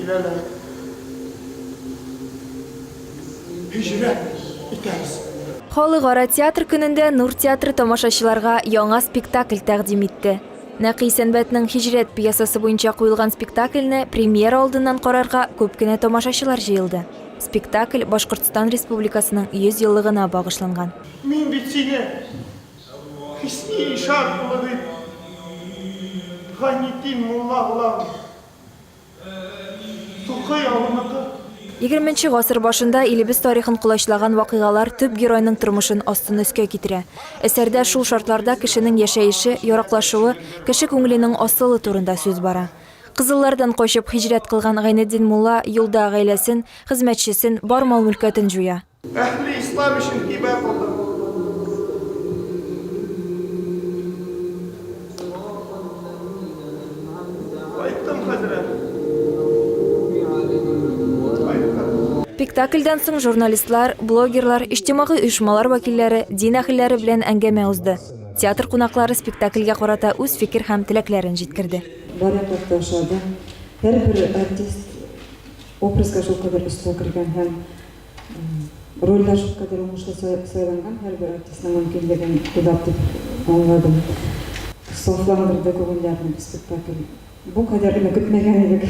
Киләләр. Һиҗрәт итәбез. Халыкара театр көнендә Нур театры тамашачыларга яңа спектакль тәкъдим итте. Нәкый Сәнбәтнең Һиҗрәт пьесасы буенча куелган спектакльне премьера алдыннан карарга күп кенә тамашачылар җыелды. Спектакль Башкортстан Республикасының 100 еллыгына багышланган. Мин бит сине Хөсни ишан улы дип Гайнетдин мулла булам. Тукай авылныкы. Егерменче гасыр башында илебез тарихын колачлаган вакыйгалар төп геройның тормышын астын-өскә китерә. Әсәрдә шул шартларда кешенең яшәеше, яраклашуы, кеше күңеленең асылы турында сүз бара. Кызыллардан качып, хиҗрәт кылган Гайнетдин мулла юлда гаиләсен, хезмәтчесен, бар мал-мөлкәтен җуя. Әһли ислам өчен һибә булды. Спектакльдән соң журналистлар, блогерлар, иҗтимагый оешмалар вәкилләре, дин әһелләре белән әңгәмә узды. Театр кунаклары спектакльгә карата үз фикер һәм теләкләрен җиткерде. Барыбер дә ошады. Һәрбер артист образга шулкадәр оста кергән һәм Рольдә шулкадәр уңышлы сайланган һәрбер артистның мөмкинлеген уйлап дип аңладым. Сафландырды күңелләрне бу спектакль. Бу кадәрен көтмәгән идек.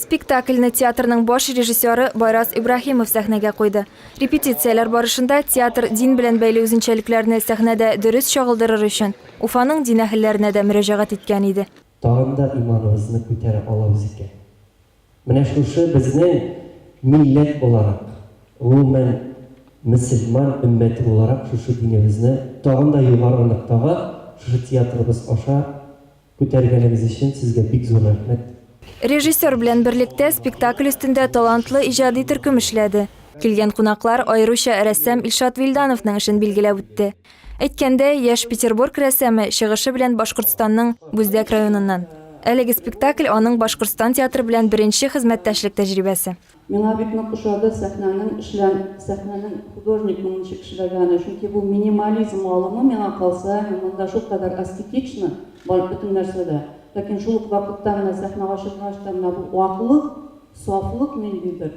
Спектакльне театрның баш режиссеры Байрас Ибраһимов сәхнәгә куйды. Репетицияләр барышында театр дин белән бәйле үзенчәлекләрне сәхнәдә дөрес чагылдырыр өчен Уфаның дин әһелләренә дә мөрәҗәгать иткән иде. Тагын да иманыбызны күтәрә алабыз икән. Менә шушы безнең милләт буларак, гомумән, мөселман өммәте буларак шушы динебезне тагын да югары ноктага шушы театрыбыз аша күтәргәнегез өчен сезгә бик зур рәхмәт. Режиссер белән берлектә спектакль өстендә талантлы иҗади төркем эшләде. Килгән кунаклар аеруча рәссам Илшат Вилдановның эшен билгеләп үтте. Әйткәндәй, яшь Петербург рәссамы чыгышы белән Башкортстанның Бүздәк районыннан. Әлеге спектакль, аның Башкортстан театры белән беренче хезмәттәшлек тәҗрибәсе. Миңа бик нык ошады сәхнәнең эшлән, сәхнәнең художникның ничек эшләгәне, чөнки бу минимализм алымы, миңа калса, һәм монда шулкадәр аскетично бар бөтен нәрсә дә. Ләкин шул ук вакытта менә сәхнә ачылгач та менә бу аклык, сафлык ниндидер.